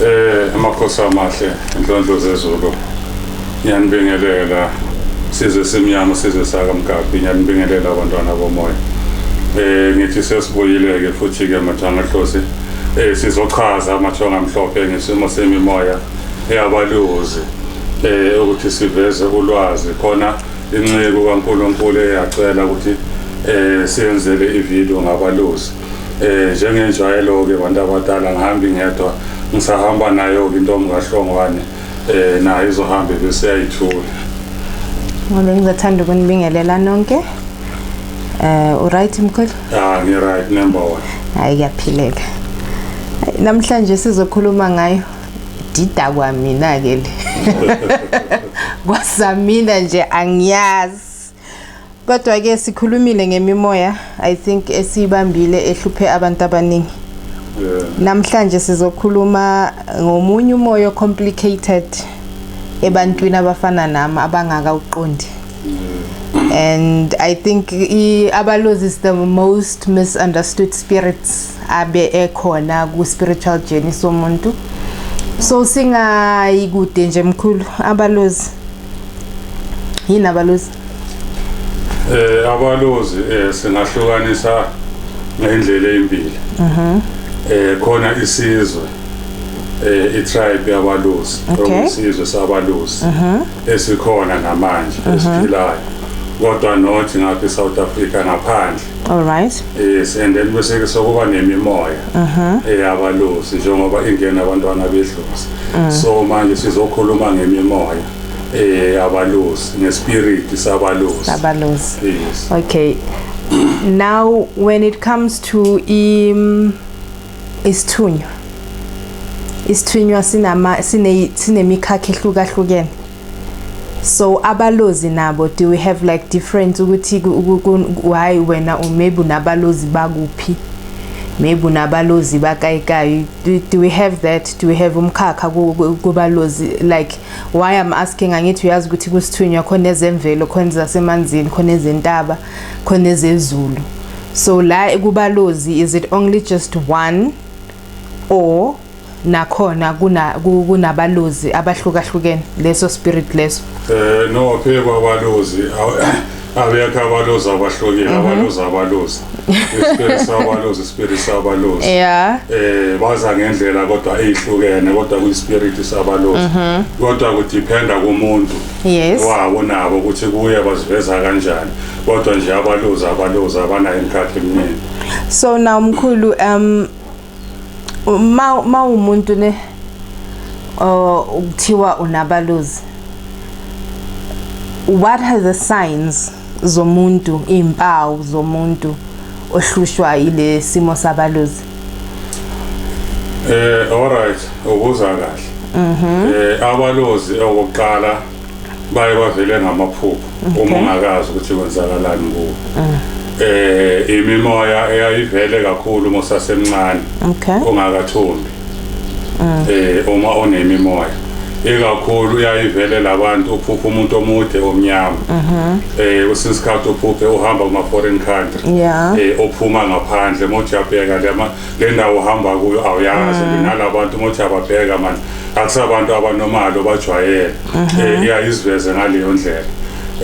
Eh amakhosi amahle inhlonhlo zezulu. Ngiyanibingelela size simnyama size saka mgabhi ngiyanibingelela abantwana bomoya. Eh ngithi sesibuyile ke futhi ke mathanga hlosi. Eh sizochaza amathonga amhlophe ngesimo semimoya eyabaluzi. Eh ukuthi siveze ulwazi khona inceku kaNkuluNkulu eyacela ukuthi eh siyenzele ivideo ngabaluzi. Eh njengenjwayelo-ke bantu abadala ngihambi ngedwa ngisahamba nayo-ke intombi kahlongwane eh nayo izohambe bese yayithula Ngobe ngizothanda ukunibingelela nonke. Eh uright mkhulu? ah ngi-right number one Hayi kuyaphileka. Hayi, Namhlanje sizokhuluma ngayo dida kwamina ke le. Kwasamina nje angiyazi. kodwa ke sikhulumile ngemimoya i think esiyibambile ehluphe abantu abaningi namhlanje sizokhuluma ngomunye umoya complicated ebantwini abafana nami abangaka uqondi and i think abalozi is the most misunderstood spirits abe ekhona ku spiritual journey somuntu so singayikude nje mkhulu abalozi yini abalozi eh abalozi eh, singahlukanisa ngendlela ezimbili mhm eh khona isizwe eh itribe yabalusi Okay. isizwe sabalusi mhm. esikhona namanje mhm. esiphila kodwa not ngapha eSouth Africa ngaphandle All right. Yes, and then bese ke sokuba nemimoya Mhm. eyabalusi njengoba ingena abantwana bedlozi. Mm. So manje sizokhuluma ngemimoya eyabalusi, ngespirit sabalusi. Sabalusi. Yes. Okay. Now when it comes to im isithunywa. Isithunywa sinama sine sinemikhakha ehlukahlukene. so abalozi nabo do we have like different ukuthi why wena or maybe unabalozi bakuphi maybe unabalozi bakayikayi do, do we have that do we have umkhakha kubalozi like why i'm asking angithi uyazi ukuthi kusithunywa khona ezemvelo khona zasemanzini khona ezentaba khona ezezulu so la kubalozi is it only just one or nakhona kuna kunabalozi abahlukahlukene leso spirit leso eh no phekwa abalozi abekho abalozi abahlukile mhm. abalozi abalozi ispirit sabalozi ispirit sabalozi yeah eh baza ngendlela kodwa ezihlukene kodwa kuyispirit sabalozi mhm. kodwa kudependa kumuntu yes wawo nabo ukuthi kuye baziveza kanjani kodwa nje abalozi abalozi abanayo imkhathi eminingi so now mkhulu um ma ma umuntu ne uh, ukuthiwa unabaluzi what are the signs zomuntu impawu zomuntu ohlushwa ile simo sabaluzi eh all right ubuza kahle mhm eh abalozi okokuqala baye bavele ngamaphupho okay. uma ungakazi ukuthi kwenzakalani kuwo mm. eh imimoya eyayivele kakhulu uma usasemncane okay. ungakathombi mm. eh uma onemimoya ikakhulu uyayivele labantu uphupha umuntu omude omnyama mhm. eh usince isikhathi uphuphe uhamba kuma foreign country eh ophuma ngaphandle mojabheka lama le ndawo uhamba kuyo awuyazi mm. nala bantu uma uthi ababheka mani akusabantu abanomali obajwayele um mhm. eh, iyayiziveze ngaleyo ndlela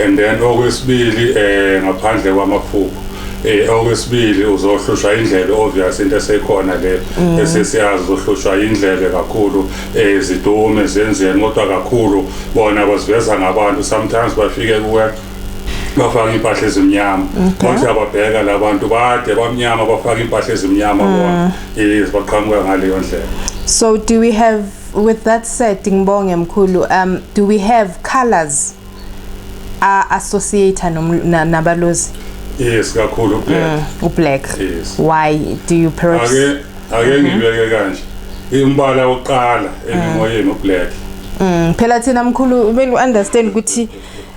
and then okwesibili um ngaphandle kwamaphupho eh okwesibili uzohlushwa indlebe obvious into esekhona le mm. esesiyazi uzohlushwa indlebe kakhulu eh zidume zenzeni kodwa kakhulu bona baziveza ngabantu sometimes bafike kuwe bafaka impahla ezimnyama konke ababheka labantu bade bamnyama bafaka impahla ezimnyama mm. bona yes baqhamuka ngaleyo ndlela so do we have with that said ngibonge mkhulu um do we have colors a associate nabalozi yes kakhulu ublack mm, ublack yes why do you perhaps ake ake mm-hmm. ngibeke kanje imbala oqala mm. emimoyeni ublack mm phela thina mkhulu kumele uunderstand ukuthi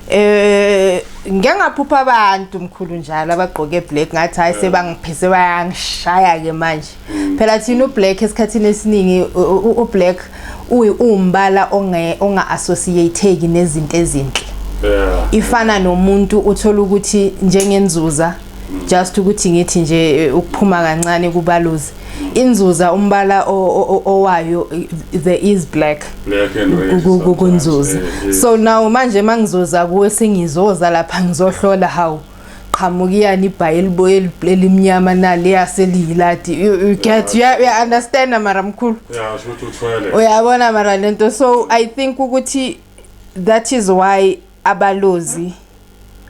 eh ngeke ngaphupha abantu mkhulu njalo abagqoke black ngathi hayi sebangiphise bayangishaya ke manje mm. phela thina ublack esikhathini esiningi ublack uyi umbala onge onga associateki nezinto ezinhle ifana nomuntu uthola ukuthi njengenzuza mm. just ukuthi ngithi nje eh, ukuphuma kancane kubaluzi inzuza umbala owayo there is black kunzuza so now manje mangizoza kuwe sengizoza lapha ngizohlola how qhamukiyani ibhayi eliboye elimnyama nali yaseliyilati you get you understand mara mkhulu uyabona mara lento so i think ukuthi that is why abalozi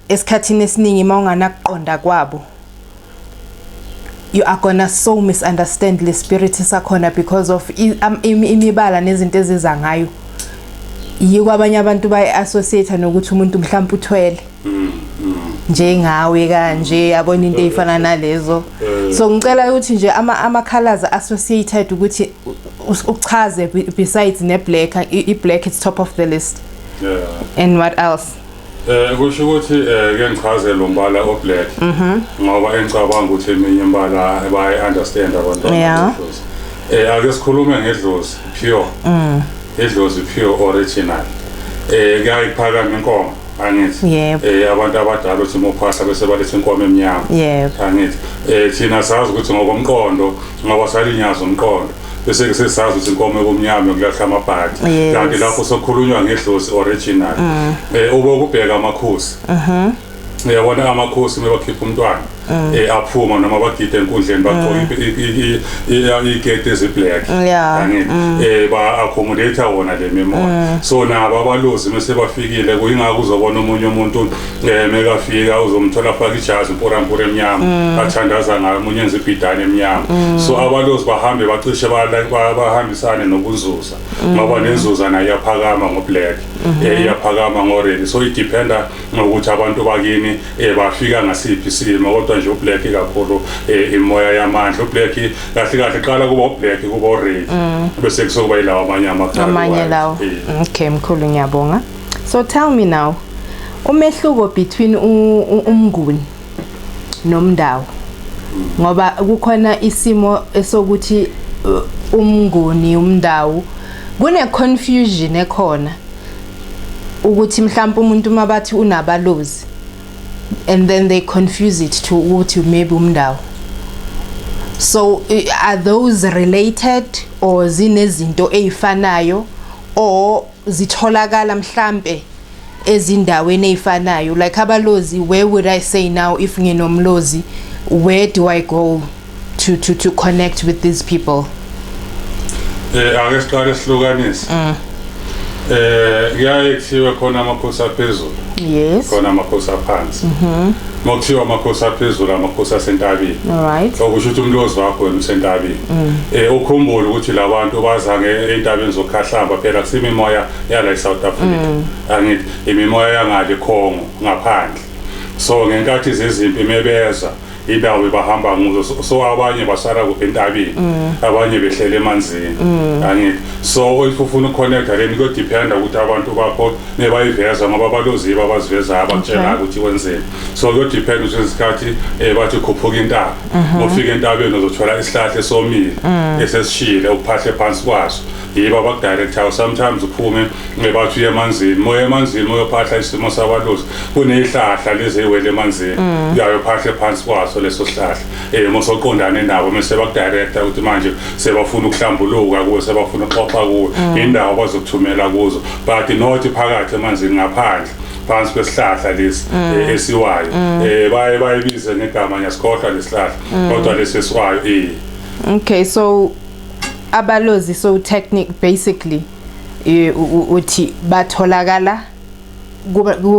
esikhathini esiningi uma unganakuqonda kwabo you are gonna so misunderstand le spirit sakhona because of imibala nezinto eziza ngayo yiko abanye abantu bayi-associate nokuthi umuntu mhlawumpe uthwele mm, mm. njengawe kanje yabona into eyifana nalezo eh. so ngicela ukuthi nje ama ama colors associated ukuthi uchaze besides ne black i black is top of the list yeah. and what else Eh kusho ukuthi eh ke ngichaze lo mbala o black mhm. ngoba engicabanga ukuthi eminye imbala bayi understand abantu yeah. eh ake sikhulume ngedlozi pure mm. idlozi pure original eh kuyayiphakama inkomo angithi yebo eh abantu abadala uthi mophasa bese balethe inkomo emnyama yebo angithi eh thina sazi ukuthi ngokomqondo ngoba salinyaza umqondo bese ngisesazi ukuthi inkomo yokumnyama kulahla amabhadi Yes. kanti lapho sokhulunywa ngedlozi original Mm. eh ube ukubheka amakhosi Mhm. uyabona amakhosi uma bakhipha umntwana Mm. eh aphuma noma bagide enkundleni bagqoke i- i- i- i- igate eziblack Yeah, Angithi? mm. eh ba accommodate wona le memory Mm. so nabo abalozi mase bafikile kuyingakho uzobona omunye umuntu Eh mekafika uzomthola afaka ijazi mporampora emnyama mm. athandaza ngayo umunye enza ibhidane emnyama mm. so abalozi bahambe bacishe bahambisane nokunzuza mm. ngoba nenzuza nayo iyaphakama ngoblack mm-hmm. eh, iyaphakama ngoredi so idependa ngokuthi abantu bakini eh, bafika ngasiphi isimo kodwa nje ublack kakhulu eh, imoya yamandla ublack kahle kahle qala kuba ublack kuba oredi bese kusokuba yilawa amanye amagama amanye lawo okay mkhulu ngiyabonga so tell me now umehluko between umnguni nomndawo ngoba kukhona isimo esokuthi uh, umnguni umndawo kune confusion ekhona ukuthi mhlawumbe umuntu uma bathi unabalozi and then they confuse it to ukuthi maybe umndawo so are those related or zinezinto ezifanayo or zitholakala mhlampe ezindaweni ezifanayo like abalozi where would i say now if nginomlozi where do i go to to to connect with these people eh ake siqale sihlukanise mm. eh kuyaye kuthiwe khona amakhosi aphezulu yes khona amakhosi aphansi mhm Makuthiwa amakhosi aphezulu amakhosi asentabeni. Alright. Okusho ukuthi umlozi wakho wena usentabeni. Mm. Eh ukhumbule ukuthi labantu bazange entabeni zokhahlamba phela kusimi moya yala eSouth Africa. Mm. Angithi imimoya yangale Congo ngaphandle. So ngenkathi zezimpi mebeza indawo bahamba nguzo so abanye basala kuphi entabeni mm. abanye behlele emanzini mm. angithi so if ufuna uconnecta then kuyodependa ukuthi abantu bakho nebayiveza ngoba baloziba abazivezayo abatshelayo ukuthi kwenzeni so kuyodepend ukuthi izikhathi um eh, bathi khuphuka intaba mhm. ofika entabeni uzothola isihlahla esomile mm. esesishile ukuphahle phansi kwaso yibo abakudirectayo sometimes uphume eh, bathi uye emanzini moya emanzini moyophahla isimo sabalozi kuneyihlahla lezeyiwele emanzini mm. uyayophahle phansi kwaso leso sihlahla eh mosoqondana nendawo mase bakudirecta ukuthi manje sebafuna ukuhlambuluka kuwe sebafuna uxoxa kuwe mm. indawo bazokuthumela kuzo but not phakathi emanzini ngaphandle phansi kwesihlahla lesi mm. eh, esiwayo mm. eh baye bayibize ngegama nyasikhohlwa lesihlahla kodwa lesi esiwayo eh okay so abalozi so technique basically eh, uthi batholakala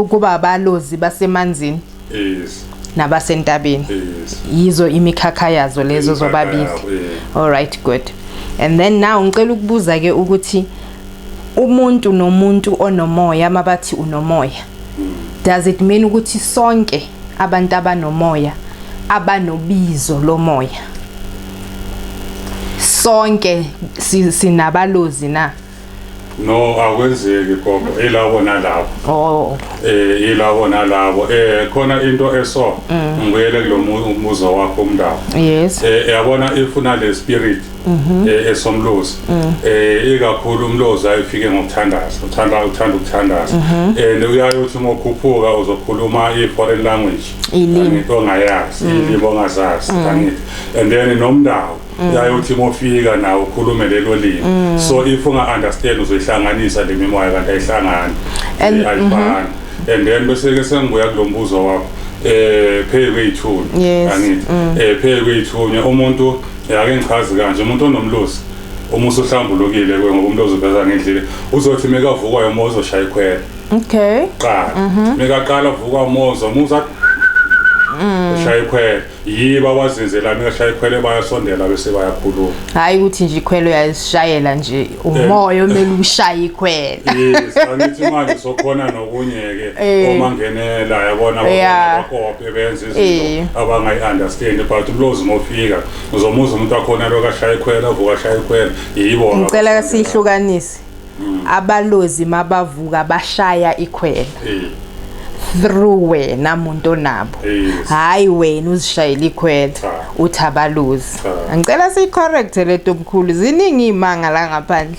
kuba abalozi basemanzini yes nabasentabeni yes yizo imikhakha yazo lezo zobabili all right good and then now ngicela ukubuza ke ukuthi umuntu nomuntu onomoya mabathi unomoya hmm. does it mean ukuthi sonke abantu abanomoya abanobizo lomoya sonke sinabalozi na no akwenzeki gogo ilabo nalabo oh eh ilabo nalabo eh khona into eso mm. ngiyele kulombuzo wakho umndaba yes eh yabona ifuna le spirit mhm. eh esomlozi mm. eh ikakhulu umlozi ayifike ngokuthandaza uthanda uthanda ukuthandaza mhm. eh newuyayo uthi ngokhuphuka uzokhuluma i foreign language ngito ngayazi mm. ilimi ongazazi kangithi and then nomndawo Mm. yayothi mofika nawo ukhulume lelo limi mm. so if unga understand uzoyihlanganisa le mimoya kanti ayihlangani And- ayifani mhm. and then bese ke sengibuya kulombuzo wakho eh phezu kweyithuni Yes, angithi mm. eh phezu kweyithuni umuntu yake ngichazi kanje umuntu onomlusi uma usuhlambulukile ke ngoba umuntu oziveza ngendlile uzothi mekavukwa yomo uzoshaya ikhwela okay qala mhm. mekaqala vukwa mozo muza ushaya ikhwela yiba wazenzelani ngashaya ikhwele bayasondela bese bayakhuluma hayi ukuthi nje ikhwele uyazishayela nje eh. umoya omele ushaya ikhwele yes angithi manje sokhona nokunye ke eh. uma ngenela yabona bakophe benze izinto eh. abangayi understand but ulozi mofika uzomuza umuntu akhona lokashaya ikhwele avuka shaya ikhwele yibo ngicela kasihlukanise mm. abalozi mabavuka bashaya ikhwela eh. through wena muntu onabo hayi wena uzishayela ikhwela uthi abalozi ngicela siyicorrect le nto mkhulu ziningi iy'manga la ngaphandle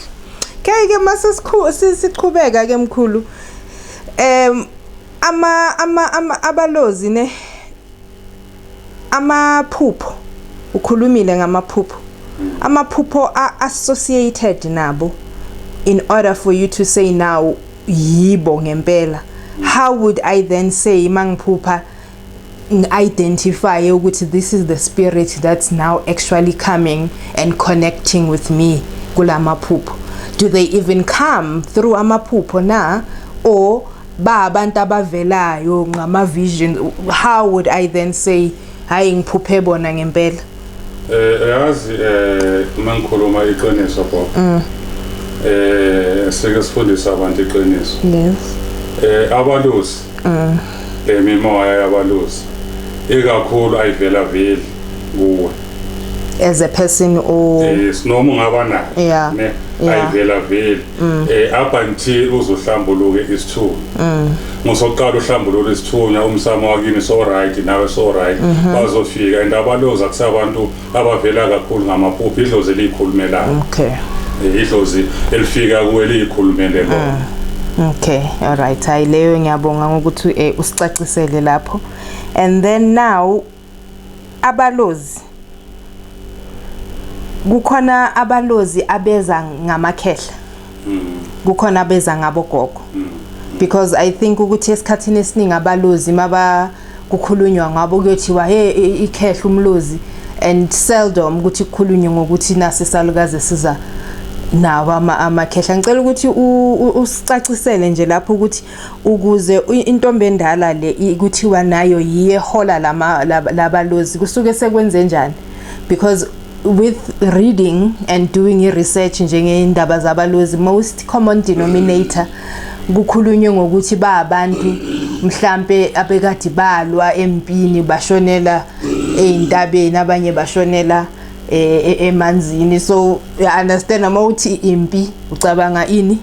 keke uma sesiqhubeka ke mkhulu um ama ama abalozi ne amaphupho ukhulumile ngamaphupho amaphupho associated nabo in order for you to say now yibo ngempela how would i then say mangiphupha identify ukuthi this is the spirit that's now actually coming and connecting with me kulamaphupho do they even come through amaphupho na or ba abantu abavelayo ngama vision how would i then say hayi ngiphuphe bona ngempela eh uyazi eh uma ngikhuluma iqiniso bo mm. eh sike sifundisa abantu iqiniso yes eh abalusi mm. emimoya eh, yabalusi ikakhulu ayivela veli kuwe as a person o yes noma ungaba nayo yeah ayivela veli mm. eh up until uzohlambuluke isithunywa mm. musoqala uhlambulule isithunywa umsamo wakini so right nawe so right mhm. bazofika and abaloza kusabantu abavela kakhulu ngamaphupho idlozi elikhulumelayo okay eh, idlozi elifika kuwe likhulumele lo mm. Okay, all right. Hayi leyo ngiyabonga ngokuthi eh, usicacisele lapho. And then now Abalozi kukhona abalozi abeza ngamakhehla mm. kukhona abeza ngabogogo mm. because i think ukuthi esikhathini esiningi abalozi maba kukhulunywa ngabo kuyothiwa he ikhehla umlozi and seldom ukuthi kukhulunywe ngokuthi nase salukaze siza nawo amakhehla ngicela ukuthi usicacisele nje lapho ukuthi ukuze intombi endala le ikuthiwa nayo yiye hola lama labalozi kusuke sekwenze njani because with reading and doing i research njengeyindaba zabalozi most common denominator kukhulunywe ngokuthi ba abantu mhlambe abekade balwa empini bashonela ezintabeni abanye bashonela eh, e-, emanzini so i understand uma uthi impi ucabanga ini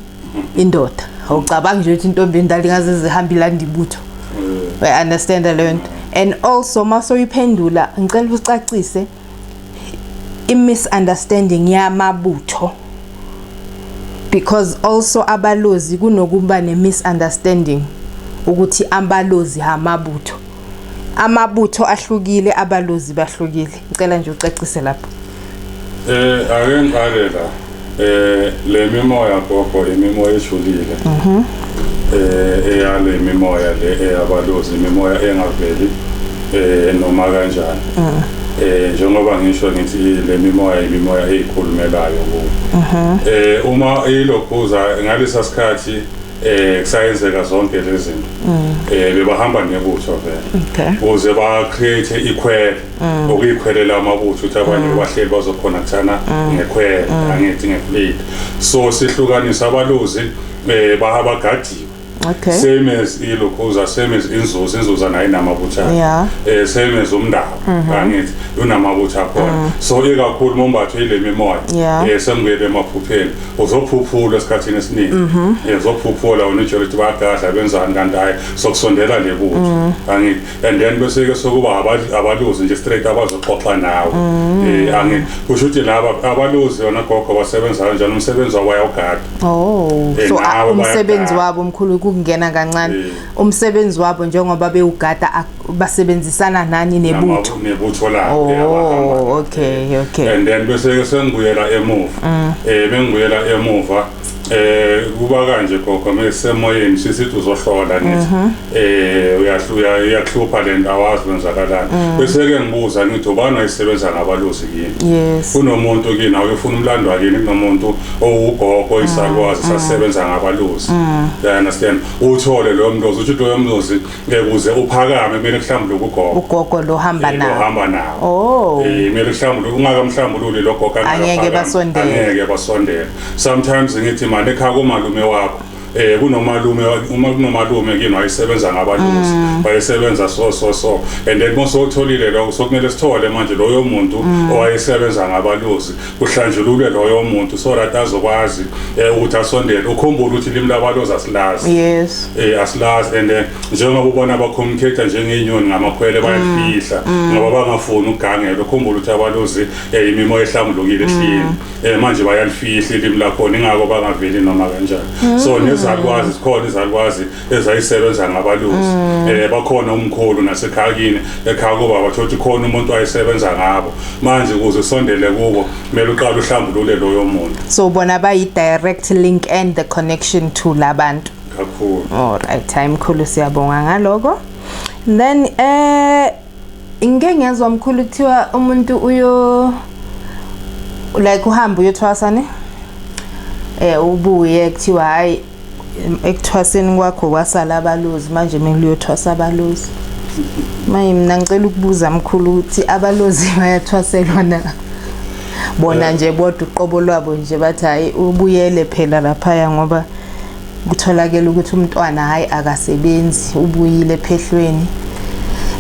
indoda awucabangi nje ukuthi intombi endala ingaze zihambe ilanda ibutho mm. i understand leyo nto and also uma soyiphendula ngicela ucacise i-misunderstanding yamabutho because also abalozi kunokuba ne-misunderstanding ukuthi abalozi hamabutho amabutho ahlukile abalozi bahlukile ngicela nje ucacise lapho eh ake ngiqale la eh le mimoya gogo imimoya ejulile mhm eh eyale mimoya le eyabalozi imimoya engaveli eh noma kanjani mhm. eh njengoba ngisho ngithi le mimoya imimoya ezikhulumelayo ku mhm. eh uma ilokhuza ngalesa sikhathi eh kusayenzeka zonke lezi zinto mm. eh bebahamba nebutho vele ukuze ba create ikhwele mm. okuyikhwelela amabutho ukuthi abanye mm. bahleli bazokhona kuthana ngekhwele angithi ngeplate so sihlukanisa abaluzi eh bahabagadiwe Okay. Same as iLukhuza, same as iNzuza, iNzuza nayo inamabutha. Yeah. Eh same as uMndaba, mm -hmm. angithi unamabutha khona. Mm. So ikakhulu mombatho ile mimoya. Yeah. Eh sengibele emaphupheni. uzophuphula esikhathini esiningi mhm. eh, uzophuphula wena ujele ukuthi bayagadla benzani kanti hhayi sokusondela le kuthi mhm. angithi and then bese-ke sokuba abaluzi nje straight abazoxoxa nawe um mhm. eh, angithi kusho ukuthi laba abaluzi yona gogo basebenza kanjani umsebenzi wabo bayawugada oh eh, so ah, umsebenzi wabo mkhulu kungena kancane umsebenzi wabo njengoba bewugada basebenzisana nani nebutho nebutho lakhe oh okay okay and then bese ke sengibuyela emuva mm. eh bengibuyela emuva eh kuba kanje gogo mesemoyeni sisithi uzohlola ngithi mm-hmm. eh uyahluya uyakhlupa lento awazi kwenzakalani mm. bese ke ngibuza ngithi ubani ayisebenza ngabaluzi yini kunomuntu kini awuyofuna umlando wakini kunomuntu owugogo mm. isalwazi mm. sasebenza ngabaluzi you understand uthole lo mlozi uthi lo mlozi ngekuze uphakame kumele kuhlambule ukugogo ugogo lo hamba nawo uhamba nawo oh eh kumele kuhlambule ungakamhlambululi lo gogo angeke basondele angeke basondele sometimes ngithi manje ekhaya komalume wakho eh kunomalume uma kunomalume kimi wayesebenza ngabalusi mm. wayesebenza so so so and then mose utholile lokho sokumele sithole manje loyo muntu mm. owayesebenza ngabalusi kuhlanjululwe loyo muntu so that azokwazi eh, ukuthi asondele ukhumbule ukuthi ilimi labalozi asilazi yes eh asilazi and eh, njengoba ubona abacommunicate njengenyoni ngamakhwele mm. bayafihla mm. ngoba bangafuni ukugangela ukhumbule ukuthi abalozi eh, imimoya ehlambulukile ehlini mm. eh manje bayalifihla ilimi lakho ingakho bangaveli noma kanjani so nezalukwazi sikhona izalukwazi ezayisebenza ngabalusi mm. eh bakhona umkhulu nasekhaya kini ekhaya kuba bathothi khona umuntu wayesebenza ngabo manje ukuze sondele kubo kumele uqale uhlambulule loyo muntu so bona bayi direct link and the connection to labantu kakhulu all right time khulu siyabonga ngaloko then eh ngike ngezwa mkhulu kuthiwa umuntu uyo like uhamba uyothwasa ne eh ubuye kuthiwa hayi ekuthwaseni kwakho kwasala abalozi manje mina kuyothwasa abalozi manje mina ngicela ukubuza mkhulu ukuthi abalozi bayathwaselwa na bona nje bodwa uqobo lwabo nje bathi hayi ubuyele phela laphaya ngoba kutholakele ukuthi umntwana hayi akasebenzi ubuyile phehlweni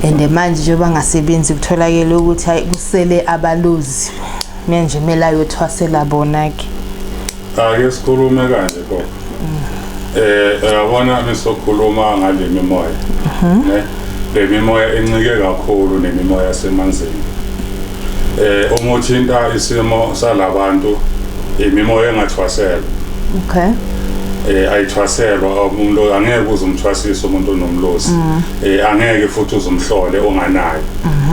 and manje njengoba ngasebenzi kutholakele ukuthi hayi kusele abalozi mina nje kumele ayothwasela bona-ke Ake sikhulume kanje gogo. Eh uyabona misokhuluma ngale mimoya. Ne? Le mimoya encike kakhulu nemimoya yasemanzini. Eh uma uthinta isimo salabantu imimoya engathwaselwa. Okay. eh ayithwaselwa umuntu angeke uzumthwasisa umuntu onomlosi eh angeke futhi uzumhlole onganayo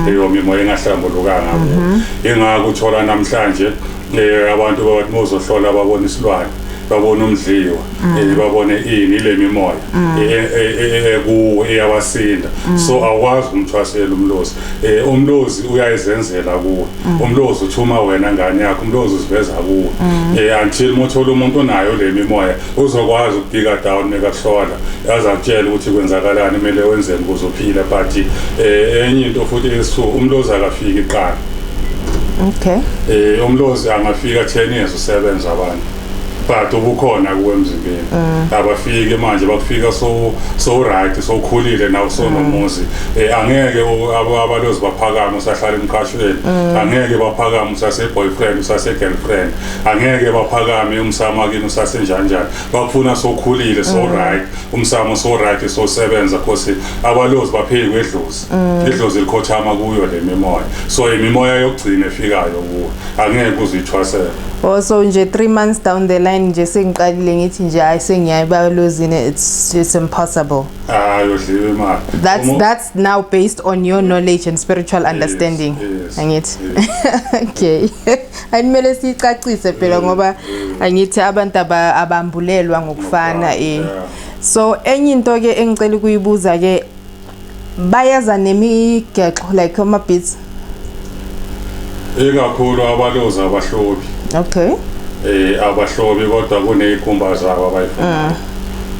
leyo mimoya engahlambulukanga ngakho ingakho uthola namhlanje Eh abantu bathi muzohlola babona isilwane babona umdliwa mm. eh, babone ini le mimoya mm. eh, eh, ekuwo eyabasinda mm. so awukwazi umthwasela umlozi umlozi uyayizenzela kuwe umlozi uthuma wena ngane yakho umlozi uziveza kuwe until muthola umuntu onayo le mimoya uzokwazi ukubika down nekakuhlola azakutshela ukuthi kwenzakalani kumele wenzeni ukuze uphile but enye into futhi esu umlozi akafiki iqala okay eh umlozi angafika 10 years usebenza abantu but ubukhona kuwe emzimbeni mm. abafike manje bakufika so so right so khulile nawo so mm. nomuzi eh, angeke abalozi baphakama usahlala emqashweni mm. angeke baphakama usase boyfriend usase girlfriend angeke baphakame umsama kini usase njanjani bakufuna so khulile so right umsamo so right so sebenza cause abalozi bapheki wedlozi Mm. idlozi likhothama kuyo le mimoya so imimoya yokugcina efikayo kuwo angeke uzithwasele oh so nje 3 months down the line nje sengiqalile ngithi nje hayi sengiyayibalozini it's it's impossible hayi udliwe imali that's Umu that's now based on your knowledge and spiritual understanding yes, angithi yes. okay ayimele sicacise phela mm, ngoba mm. angithi abantu abambulelwa ngokufana eh so enye into ke engicela ukuyibuza ke bayeza nemigexo like ama beats ikakhulu abalozi abahlobi okay eh abahlobi kodwa kunezikhumba zabo abayifunayo mm.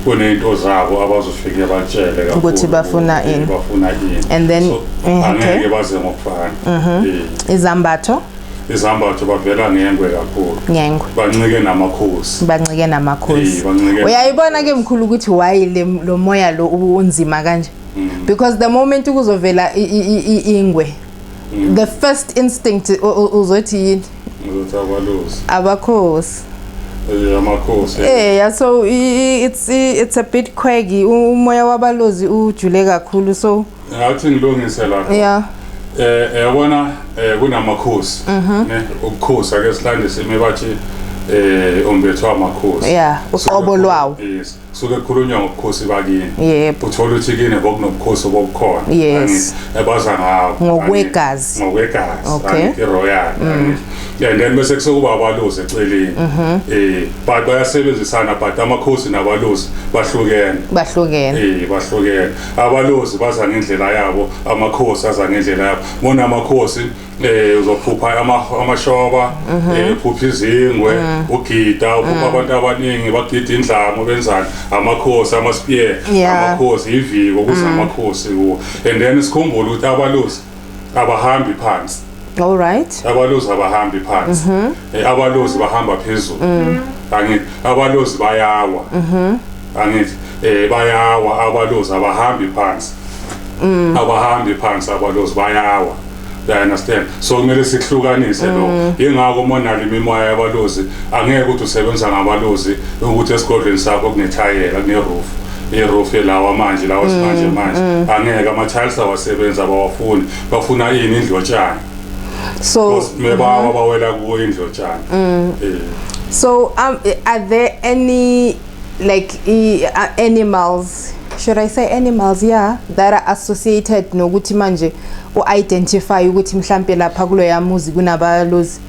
kunento zabo abazofike batshele kakhulu ukuthi bafuna ini bafuna ini and then so, eh, okay. angeke baze ngokufana mhm. eh. izambatho izambatho bavela ngengwe kakhulu ngengwe bancike namakhosi bancike namakhosi uyayibona ke mkhulu ukuthi why lo moya lo unzima kanje mm. because the moment kuzovela ingwe mm. the first instinct uzothi yini uzothi abalusi abakhosi eh, amakhosi eh yeah so it's it's a bit quaggy umoya wabalozi ujule kakhulu so mm. Ngawuthi ngilungise lapho. Yeah. Eh yabona eh, kunamakhosi. Mhm. Ne ukukhosa ke silandise imibathi eh ombethwa amakhosi. Yeah, uqobo lwawo. Yes. Suke khulunywa ngobukhosi bakini. Yebo. Uthola ukuthi kini bokunobukhosi obukhona. Yes. Ebaza ngawo. Ngokwegazi. Ngokwegazi. Okay. Angithi royal. Mm. Yeah, then bese kusokuba abaluzi eceleni. Mhm. Eh, but bayasebenzisana but amakhosi nabaluzi bahlukene. Bahlukene. Eh, bahlukene. abalozi baza ngendlela yabo amakhosi aza ngendlela yabo bona amakhosi eh uzophupha amashoba mhm. eh, uphupha izingwe mhm. ugida uphupha mhm. abantu abaningi bagida indlamu benzani amakhosi amaspear amakhosi iviko kuze amakhosi kuwo and then sikhumbule ukuthi abalozi abahambi phansi all right abalozi abahambi phansi mhm. eh, abalozi bahamba phezulu mm. angithi abalozi bayawa mhm. angithi eh, bayawa abalozi abahambi phansi mm. abahambi phansi abalozi bayawa you understand so kumele sihlukanise lo mm. yingakho monali imimoya yabalozi angeke ukuthi usebenza ngabalozi ukuthi esigodlweni sakho kunethayela kuneroof erofe lawa manje lawa simanje manje angeke ama-tiles awasebenzi abawafuni bafuna yini indlotshana so Because mebawa bawela kuwo indlotshana Eh. so um, are there any like i- uh, animals should i say animals yeah that are associated nokuthi manje u-identify ukuthi mhlampe lapha kuloya muzi kunabalozi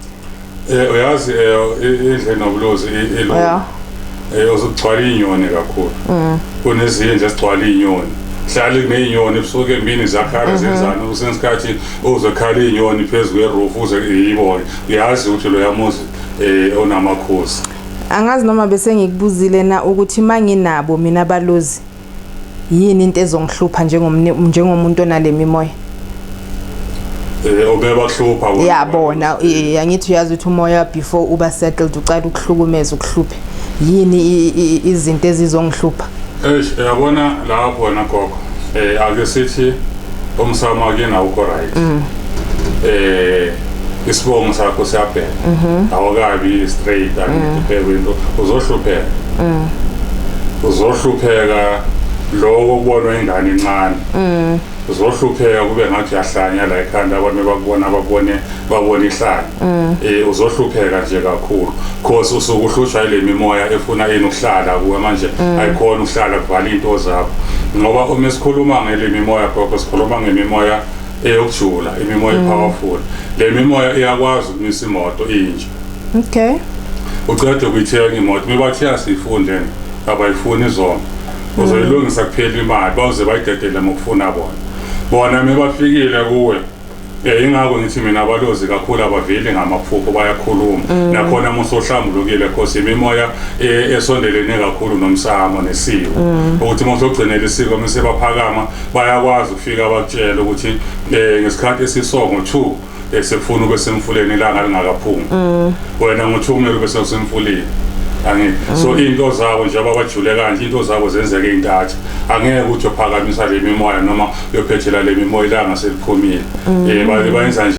Eh uyazi eh indle nobulozi elo. Yeah. Eh uzugcwala inyoni kakhulu. Mhm. Kunezinye nje sigcwala inyoni. Hlali kunezinyoni ebusuku emini zakhala mhm. zenzana usensikhathi uzokhala izinyoni phezulu kweroof uze yibone. Uyazi ukuthi lo yamuzi eh onamakhosi. Angazi noma bese ngikubuzile na ukuthi manginabo mina balozi yini into ezongihlupha njengomuntu onale mimoya eh, ubebahlupha yabona eh, angithi uyazi ukuthi umoya before uba settled ucala ukuhlukumeza ukuhluphe yini izinto ezizongihlupha eish yabona lapho nagogo um eh, ake sithi umsamo akuyena awukho right mm. eh isibongo sakho siyabheka mhm. awukabi straight angibheke mm. into uzohlupheka mm. uzohlupheka lokho kubonwa ingane incane uzohlupheka kube ngathi uyahlanya la ekhanda abantu bakubona babone babone ihlanya mm. eh uzohlupheka nje kakhulu because usuke uhlutshwa ile mimoya efuna yini ukuhlala kuwe manje mm. ayikhona ukuhlala kuvala into zakho ngoba uma sikhuluma ngele mimoya gogo sikhuluma ngemimoya eyokujula imimoya mm. powerful le mimoya iyakwazi ukumisa imoto inje okay ucede ukuyithenga imoto mibathi yasifunde abayifuni izona uzoyilungisa kuphela imali bawuze bayidedele mokufuna bona bona mebafikile kuwe Eh ingakho ngithi mina abalozi kakhulu abaveli ngamaphupho bayakhuluma mm. nakhona musohlambulukile cause imimoya eh, esondelene kakhulu nomsamo nesiko mm. ukuthi umuntu ogcinela isiko mase baphakama bayakwazi ukufika bakutshela ukuthi eh, ngesikhathi esisongo 2 eh, sefuna ube semfuleni ilanga lingakaphumi mm. wena ngo-2 kumele ube semfuleni angithi so into zabo njengoba bajule kanje into zabo zenzeke intatha angeke ukuthi uphakamisa le mimoya noma uyophethela le mimoya ilanga seliphumile um bayenza nje